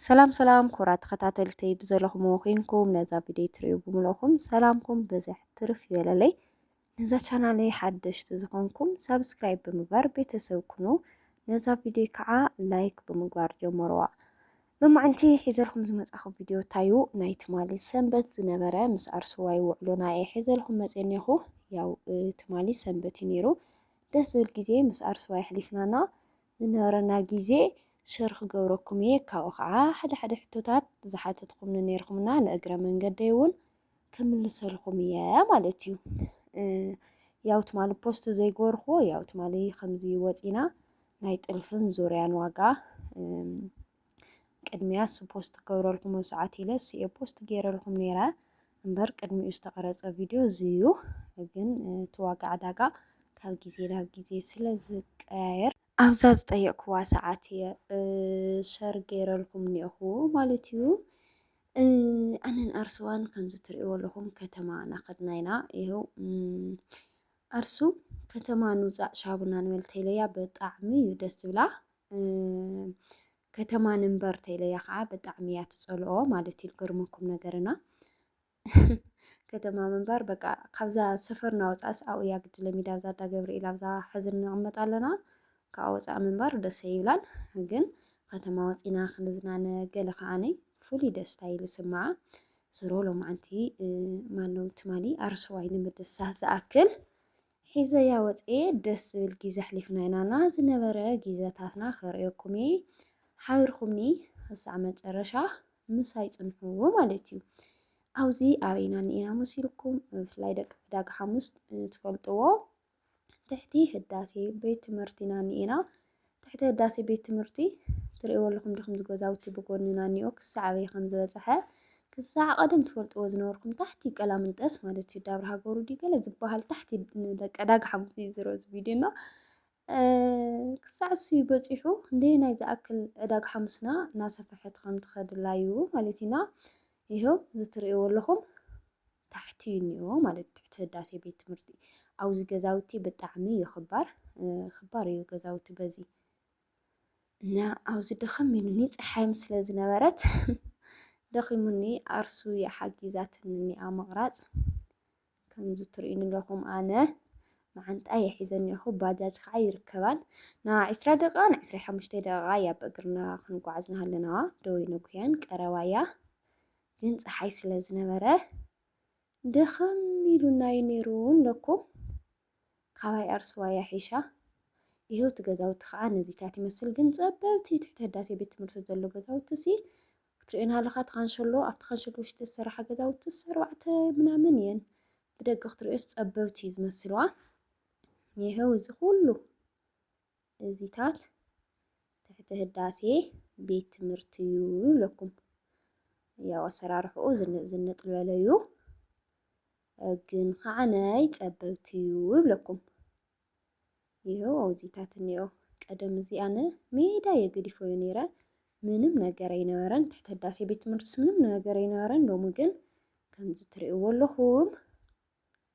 ሰላም ሰላም ኩራ ተኸታተልቲ ብዘለኹም ኮይንኩም ነዛ ቪድዮ ትሪኡ ብምልእኹም ሰላምኩም ብዝሕ ትርፍ ይበለለይ። ነዛ ቻናለይ ሓደሽቲ ዝኾንኩም ሳብስክራይብ ብምግባር ቤተሰብ ኩኑ። ነዛ ቪድዮ ከዓ ላይክ ብምግባር ጀመርዋ። ሎማዕንቲ ሒዘልኩም ዝመፃኹ ቪድዮ ታዩ ናይ ትማሊ ሰንበት ዝነበረ ምስ ኣርሱዋይ ውዕሎና እየ ሒዘልኩም መፅኔኹ። ያው ትማሊ ሰንበት እዩ ነይሩ ደስ ዝብል ግዜ ምስ ኣርሱዋይ ኣሕሊፍናና ዝነበረና ግዜ ሸር ክገብረኩም እየ ካብኡ ከዓ ሓደ ሓደ ሕቶታት ዝሓተትኩምኒ ነይርኩምና ንእግረ መንገደይ እውን ክምልሰልኩም እየ ማለት እዩ ያው ትማሊ ፖስት ዘይገበርኩዎ ያው ትማሊ ከምዚ ወፂና ናይ ጥልፍን ዙርያን ዋጋ ቅድሚያ እሱ ፖስት ክገብረልኩም ኣብ ሰዓት ኢለ እሱ እየ ፖስት ገይረልኩም ነይረ እምበር ቅድሚኡ ዝተቐረፀ ቪድዮ እዚ እዩ። ግን እቲ ዋጋ ዕዳጋ ካብ ግዜ ናብ ግዜ ስለ ዝቀያየር ኣብዛ ዝጠየቅኩዋ ሰዓት እየ ሸር ገይረልኩም እኒኦኹ ማለት እዩ። ኣነን ኣርሱዋን ከምዚ ትሪእዎ ኣለኹም ከተማ ናኸድና ኢና ይኸው ኣርሱ ከተማ ንውፃእ ሻቡና ንበል ቴለያ ብጣዕሚ እዩ ደስ ዝብላ ከተማ ንንበር ተይለያ ከዓ ብጣዕሚ እያ ትፀልኦ ማለት እዩ ልገርመኩም ነገርና ከተማ ምንባር በቃ ካብዛ ሰፈር ናወፃእስ ኣብኡ እያ ግዲ ለሚዳ ኣብዛ ዳ ገብርኤል ኣብዛ ሕዚ ንቕመጥ ኣለና ካብኣ ወፃእ ምንባር ደሰ ይብላል ግን ከተማ ወፂና ክንዝናነ ገለ ከዓነይ ፍሉይ ደስታ እዩ ዝስምዓ ዝሮ ሎማዓንቲ ማነው ትማሊ ኣርሰዋይ ንምድሳት ዝኣክል ሒዘያ ወጽየ ደስ ዝብል ጊዘ ኣሕሊፍና ኢና እና ዝነበረ ጊዘታትና ከርእየኩም እየ ሓቢርኩምኒ ክሳዕ መጨረሻ ምሳይ ጽንሑ ማለት እዩ። ኣብዚ ኣበይና እኒኤና መሲልኩም ብፍላይ ደቂ ዕዳጋ ሓሙስ ትፈልጥዎ ትሕቲ ህዳሴ ቤት ትምህርቲና እኒኤና ትሕቲ ህዳሴ ቤት ትምህርቲ ትርእይዎ ኣለኹም ድኹም ዝገዛውቲ ብጎንና እኒኦ ክሳዕ ኣበይ ከም ዝበፅሐ ክሳዕ ቀደም ትፈልጥዎ ዝነበርኩም ታሕቲ ቀላምንጠስ ማለት እዩ ዳብረ ሃገሩ ድዩ ገለ ዝበሃል ታሕቲ ደቂ ዕዳጋ ሓሙስ እዩ ዝሮ እዚ ቪድዮ እና ክሳዕ እሱ በፂሑ እንደ ናይ ዝኣክል ዕዳግ ሓሙስና እናሰፈሐት ከም ትኸድላ እዩ ማለት ኢና ይኸው ዝትርእይዎ ኣለኹም ታሕቲ እዩ እኒኦ ማለት እዩ ትሕቲ ህዳሴ ቤት ትምህርቲ ኣብዚ ገዛውቲ ብጣዕሚ እዩ ክባር ክባር እዩ ገዛውቲ በዚ እና ኣብዚ ደኸም ኢሉኒ ፀሓይም ስለ ዝነበረት ደኺሙኒ ኣርሱ እያ ሓጊዛትኒ እኒኣ ምቕራፅ ከምዚ ትርእዩኒ ኣለኹም ኣነ መዓንጣ የሒዘኒ እኹ ባጃጅ ከዓ ይርከባን ና ዕስራ ደቂቃ ን ዕስራ ሓሙሽተ ደቂቃ እያ ብእግርና ክንጓዓዝ ንሃለናዋ ደወይ ነጉያን ቀረባ እያ ግን ፀሓይ ስለ ዝነበረ ድኽም ኢሉናዩ ነይሩ እለኩ ካባይ ኣርስዋ እያ ሒሻ ይሄው እቲ ገዛውቲ ከዓ ነዚታት ይመስል ግን ፀበብቲ ትሕቲ ህዳሴ ቤት ትምህርቲ ዘሎ ገዛውቲ ሲ ክትሪኦን ሃለካ እቲ ካንሸሎ ኣብቲ ካንሸሎ ውሽጢ ዝተሰራሓ ገዛውቲ ኣርባዕተ ምናምን እየን ብደገ ክትሪኦስ ፀበብቲ እዩ ዝመስልዋ ይሄው እዚ ኩሉ እዚታት ትሕቲ ህዳሴ ቤት ትምህርቲ እዩ ይብለኩም። ያው ኣሰራርሕኡ ዝንጥ ዝበለ እዩ ግን ከዓነይ ጸበብቲ እዩ ይብለኩም። ይኸው ኣውዚታት እኒኦ ቀደም እዚ ኣነ ሜዳ የገዲፎዩ ነይረ ምንም ነገር ኣይነበረን ትሕቲ ህዳሴ ቤት ትምህርትስ ምንም ነገር ኣይነበረን። ሎሚ ግን ከምዚ ትርእይዎ ኣለኹም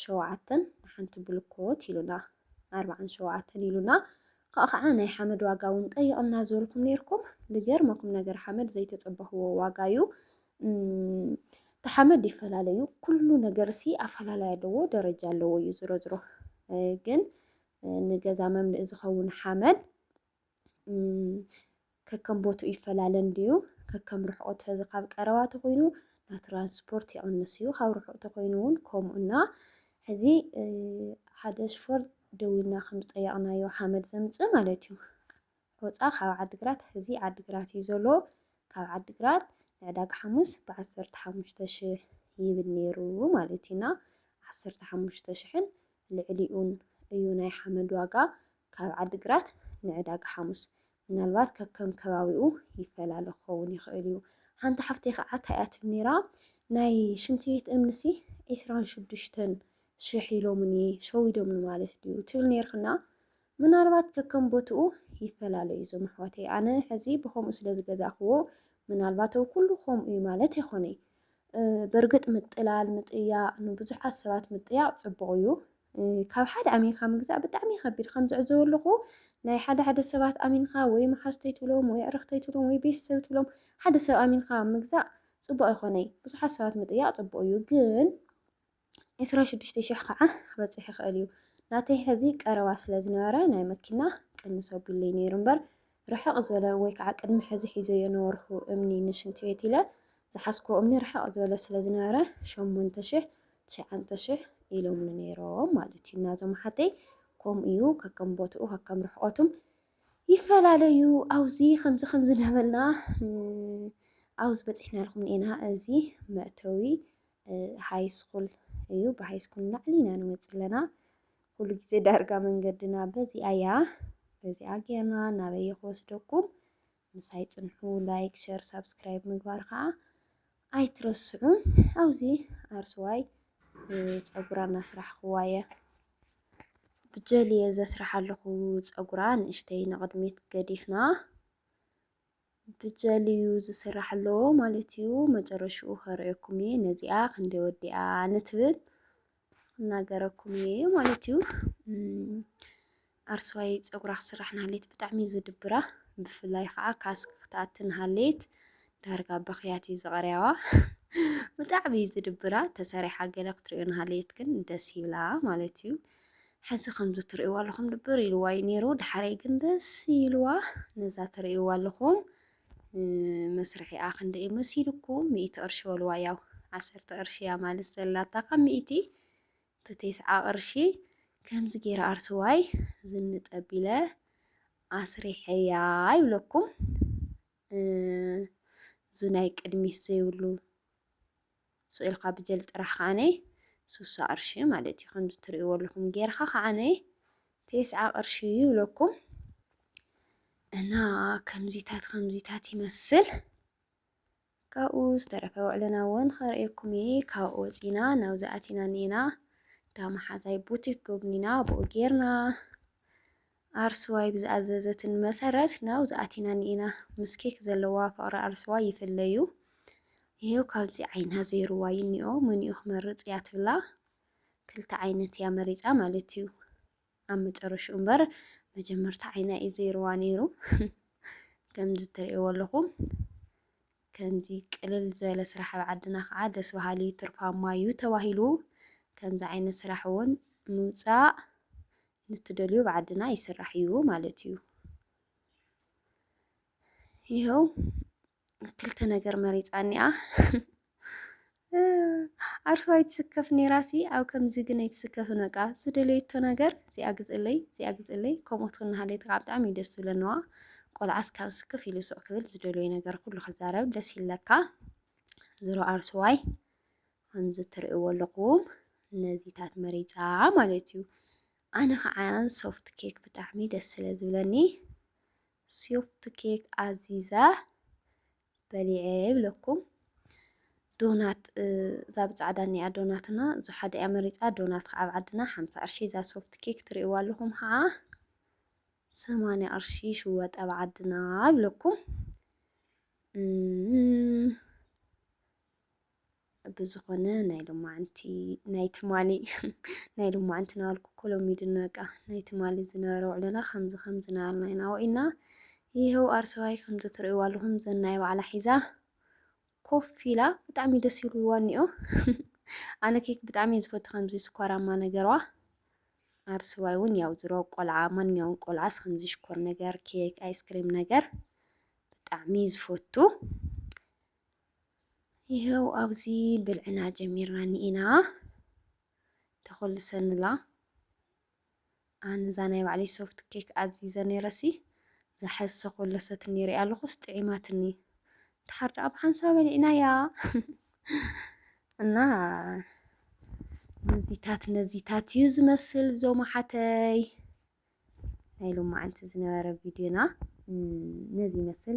ሸውዓተን ንሓንቲ ብልኮት ኢሉና ኣርብዓን ሸውዓተን ኢሉና ካእ ካዓ ናይ ሓመድ ዋጋ ውን ጠይቅና ዝበልኩም ነይርኩም ልገርመኩም ነገር ሓመድ ዘይተፀበክዎ ዋጋ ዩ ተሓመድ ይፈላለ ዩ ኩሉ ነገር ሲ ኣፈላላይ ኣለዎ ደረጃ ኣለዎ ዩ ዝሮ ዝሮ ግን ንገዛ መምልኢ ዝኸውን ሓመድ ከከም ቦትኡ ይፈላለ እንድዩ። ከከም ርሕቑ ተዚ ካብ ቀረባ ተኾይኑ ናይ ትራንስፖርት ይቕንስ እዩ፣ ካብ ርሑቕ ተኾይኑ እውን ከምኡ እና ሕዚ ሓደ ሽፎር ደዊልና ከም ዝጠየቕናዮ ሓመድ ዘምፅእ ማለት እዩ። ሆፃ ካብ ዓዲግራት ሕዚ ዓዲግራት እዩ ዘሎ። ካብ ዓዲግራት ንዕዳጋ ሓሙስ ብዓሰርተ ሓሙሽተ ሽሕ ይብል ነይሩ ማለት እዩና ዓሰርተ ሓሙሽተ ሽሕን ልዕሊኡን እዩ ናይ ሓመድ ዋጋ ካብ ዓዲግራት ንዕዳጋ ሓሙስ ምናልባት ከከም ከባቢኡ ይፈላለ ክኸውን ይኽእል እዩ። ሓንቲ ሓፍተይ ከዓ እንታይ እያ ትብል ነይራ ናይ ሽንቲ ቤት እምኒሲ ዒስራን ሽዱሽተን ሽሕ ኢሎምኒ ሸዊዶምኒ ማለት ድዩ ትብል ነይርክና ምናልባት ከከም ቦትኡ ይፈላለ እዩ እዞም ኣሕዋተይ ኣነ ሕዚ ብከምኡ ስለ ዝገዛእክዎ ምናልባት ኣብ ኩሉ ከምኡ እዩ ማለት ኣይኮነይ በርግጥ ምጥላል ምጥያቕ ንብዙሓት ሰባት ምጥያቕ ፅቡቕ እዩ ካብ ሓደ ኣሚንካ ምግዛእ ብጣዕሚ እዩ ከቢድ ከም ዝዕዘቦ ኣለኩ ናይ ሓደ ሓደ ሰባት ኣሚንካ ወይ መሓዙተይ ትብሎም ወይ ኣዕርክተይ ትብሎም ወይ ቤተሰብ ትብሎም ሓደ ሰብ ኣሚንካ ምግዛእ ጽቡቅ ኣይኮነይ ብዙሓት ሰባት ምጥያቅ ጽቡቅ እዩ ግን ዕስራ ሽዱሽተ ሽሕ ከዓ ክበጽሕ ይክእል እዩ ናተይ ሕዚ ቀረባ ስለ ዝነበረ ናይ መኪና ቅንስ ኣቢሉለይ ነይሩ እምበር ርሕቕ ዝበለ ወይ ከዓ ቅድሚ ሕዚ ሒዘዮ ነበርኹ እምኒ ንሽንቲ ቤት ኢለ ዝሓዝኩዎ እምኒ ርሕቕ ዝበለ ስለ ዝነበረ ሸሞንተ ሽሕ ትሽዓንተ ሽሕ ኢሎምኒ ነይሮም ማለት እዩ እና እዞም ሓተይ ከምኡ እዩ ከከም ቦትኡ ከከም ርሕቐቱም ይፈላለዩ ኣብዚ ከምዚ ከምዚ ነበልና ኣብዚ በፂሕናልኩም ኢና እዚ መእተዊ ሃይስኩል እዩ ብሃይስኩል ናዕሊ ኢና ንወፅ ኣለና ኩሉ ግዜ ዳርጋ መንገድና በዚኣ እያ በዚኣ ጌርና ናበይ ክወስደኩም ምሳይ ጽንሑ ላይክ ሸር ሳብስክራይብ ምግባር ከዓ ኣይትረስዑ ኣብዚ ኣርስዋይ ፀጉራ እናስራሕኽዋ እየ ብጀል እየ ዘስራሕ ኣለኹ ፀጉራ ንእሽተይ ንቕድሚት ገዲፍና ብጀልዩ ዝስራሕ ኣሎ ማለት እዩ መጨረሽኡ ከርእየኩም እየ ነዚኣ ክንደይ ወዲኣ ንትብል እናገረኩም እየ ማለት እዩ ኣርስዋይ ፀጉራ ክስራሕ ንሃሌት ብጣዕሚ እዩ ዝድብራ ብፍላይ ከዓ ካስክ ክትኣቲ ንሃሌት ዳርጋ በኽያት እዩ ዝቐርያዋ ብጣዕሚ እዩ ዝድብራ ተሰሪሓ ገለ ክትሪኦ ንሃሌት ግን ደስ ይብላ ማለት እዩ ሐዚ ከምዚ ትርእይዋ ኣለኹም ድብር ኢልዋ እዩ ነይሩ ድሓረይ ግን ደስ ኢልዋ ነዛ ትርእይዋ ኣለኹም መስርሒኣ ክንደ እዩ መሲልኩም ሚእቲ ቅርሺ በልዋ ያው ዓሰርተ ቅርሺ እያ ማለት ዘላታ ካብ ሚእቲ ብቴስዓ ቅርሺ ከምዚ ገይረ ኣርስዋይ ዝንጠቢለ ኣስሪሐያ ይብለኩም እዚ ናይ ቅድሚት ዘይብሉ ስእልካ ብጀል ጥራሕ ከኣነ ሱሳ ቅርሺ ማለት እዩ ከምዚ ትርእይዎ ኣለኹም ጌርካ ከኣነ ቴስዓ ቅርሺ ይብለኩም እና ከምዚታት ከምዚታት ይመስል ካብኡ ዝተረፈ ውዕልና እውን ከርእየኩም እየ ካብኡ ወፂና ናብዚ ኣቲና እኒኤና ዳመሓዛይ ቡቲክ ጎብኒና ብኡ ጌርና ኣርሰዋይ ብዝኣዘዘትኒ መሰረት ናብዚ ኣቲና ኒኢና ምስ ኬክ ዘለዋ ፍቕሪ ኣርሰዋይ ይፍለዩ ይሄው ካብዚ ዓይና ዘይሩዋ ይኒኦ መኒኡ ክመርጽ እያ ትብላ ክልተ ዓይነት እያ መሪጻ ማለት እዩ ኣብ መጨረሽኡ እምበር መጀመርታ ዓይና እዩ ዘይሩዋ ነይሩ ከምዚ ትርእይዎ ኣለኹም ከምዚ ቅልል ዝበለ ስራሕ ኣብ ዓድና ከዓ ደስ በሃሊ እዩ ትርፋማ እዩ ተባሂሉ ከምዚ ዓይነት ስራሕ እውን ምውፃእ ንትደልዮ ኣብ ዓድና ይስራሕ እዩ ማለት እዩ። ይኸው ክልተ ነገር መሪፃ እኒኣ ዓርሱ ኣይትስከፍ ኔራሲ ኣብ ከምዚ ግን ኣይትስከፍን በቃ ዝደለየቶ ነገር እዚኣ ግፅለይ እዚኣ ግፅለይ ከምኦት ክናሃለይ ከዓ ብጣዕሚ እዩ ደስ ዝብለንዋ ቆልዓስ ካብ ስክፍ ኢሉ ሱቅ ክብል ዝደለዩ ነገር ኩሉ ክዛረብ ደስ ይለካ ዝሮ ዓርሱዋይ ከምዚ እትርእይዎ ኣለኹም ነዚታት መሪጻ ማለት እዩ። ኣነ ኸዓ ሶፍት ኬክ ብጣዕሚ ደስ ስለ ዝብለኒ ሶፍት ኬክ ኣዚዘ በሊዐ ይብለኩም። ዶናት እዛ ብጻዕዳ እኒኣ ዶናትና እዙ ሓደ እያ መሪፃ ዶናት ከዓ ኣብ ዓድና ሓምሳ ቅርሺ እዛ ሶፍት ኬክ ትርእይዋ ኣለኹም ከዓ ሰማንያ ቅርሺ ሽወጥ ኣብ ዓድና ይብለኩም። ብዝኾነ ናይ ሎማዓንቲ ናይ ትማሊ ናይ ሎማዓንቲ ናበልኩ እኮ ሎሚ ድነ በቃ ናይ ትማሊ ዝነበረ ውዕሎና ከምዚ ከም ዝነበርና ኢና ውዒልና ይኸው ኣርሰባይ ከምዚ ትርእይዎ ኣለኹም ዘናይ ባዕላ ሒዛ ኮፍ ኢላ ብጣዕሚ ደስ ይብልዋ እኒኦ ኣነ ኬክ ብጣዕሚ ዝፈቱ ከምዚ ስኳራማ ነገርዋ ኣርስዋይ እውን ያው ዝሮ ቆልዓ ማንኛውም ቆልዓስ ከምዚ ሽኮር ነገር ኬክ ኣይስክሪም ነገር ብጣዕሚ ዝፈቱ ይሀው ኣብዚ ብልዕና ጀሚርና እኒኢና ተኾልሰንላ ኣነ እዛ ናይ ባዕለይ ሶፍት ኬክ ኣዚዘ ነይረሲ እዛ ሕዚ ተኾለሰትኒ ሪኣ ኣለኹስ ጥዒማትኒ ድሓር ደኣ ብሓንሳ በሊዕናያ እና ነዚታት ነዚታት እዩ ዝመስል ዞም ሓተይ ናይ ሎማዓንቲ ዝነበረ ቪድዮና ነዚ ይመስል።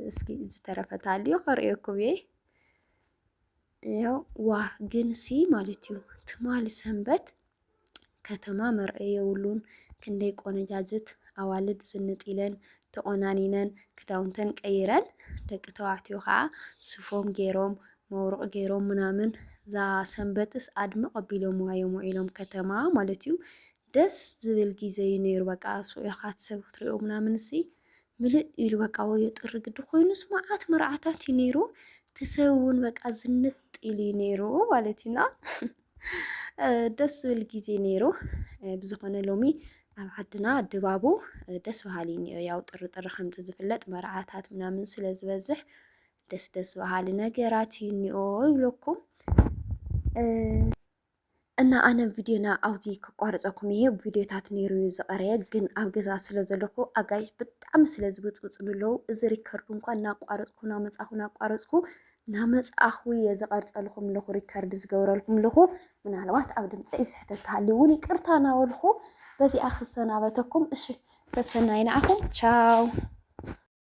እስኪ ዝተረፈ ታልዩ ክርእየኩም እየ። ያው ዋ ግን ሲ ማለት እዩ ትማሊ ሰንበት ከተማ መርአይ የብሉን ክንደይ ቆነጃጅት ኣዋልድ ዝንጥ ኢለን ተቆናኒነን ክዳውንተን ቀይረን ደቂ ተባዕትዮ ከዓ ሱፎም ገይሮም መውርቕ ገይሮም ምናምን እዛ ሰንበትስ ኣድምቕ ኣቢሎምዋ እዮም ውዒሎም ከተማ ማለት እዩ ደስ ዝብል ግዜ እዩ ነይሩ በቃ ኣስውኢኻት ሰብ ክትሪኦ ምናምንሲ ምልእ ኢሉ በቃ ወዮ ጥሪ ግዲ ኮይኑስ መዓት መርዓታት እዩ ነይሩ እቲ ሰብ እውን በቃ ዝንጥ ኢሉ እዩ ነይሩ ማለት እዩና ደስ ዝብል ግዜ ነይሩ ብዝኾነ ሎሚ ኣብ ዓድና ድባቡ ደስ በሃሊ እኒኦ ያው ጥሪ ጥሪ ከምቲ ዝፍለጥ መርዓታት ምናምን ስለ ዝበዝሕ ደስ ደስ በሃሊ ነገራት እዩ እኒኦ ይብለኩም እና ኣነ ቪድዮና ኣብዚ ክቋርፀኩም እየ ቪድዮታት ነይሩ እዩ ዝቐረየ ግን ኣብ ገዛ ስለ ዘለኹ ኣጋይሽ ብጣዕሚ ስለ ዝብፅብፁ ንለው እዚ ሪከርዱ እንኳን እናቋረፅኩ ናመፃኹ ናቋረፅኩ ናመፃኹ እየ ዝቐርፀልኹም ኣለኹ ሪከርድ ዝገብረልኩም ኣለኹ ምናልባት ኣብ ድምፂ ስሕተት ተሃልዩ እውን ይቅርታ ናበልኹ በዚኣ ክሰናበተኩም እሺ ሰሰናይ ንዓኹም ቻው